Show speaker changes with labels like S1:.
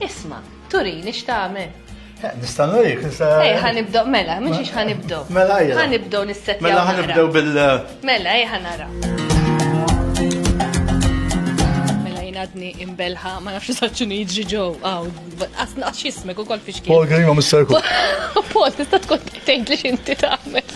S1: Isma, turini x'tagħmel? Eh, nista'
S2: nurik, nista'. Ej, ħanibdew
S1: mela, mhux ix ħanibdew. Mela ejja. Ħanibdew
S2: nissetja. Mela
S1: ħanibdew bil.
S2: Mela ej
S1: ħanara. Mela jnadni imbelħa, ma nafx saċċinu jiġri ġew, għaw, asnaqx jismek u kol fixkien. Paul Grima, Mr.
S2: Paul, tista'
S1: tkun tgħid li xinti tagħmel.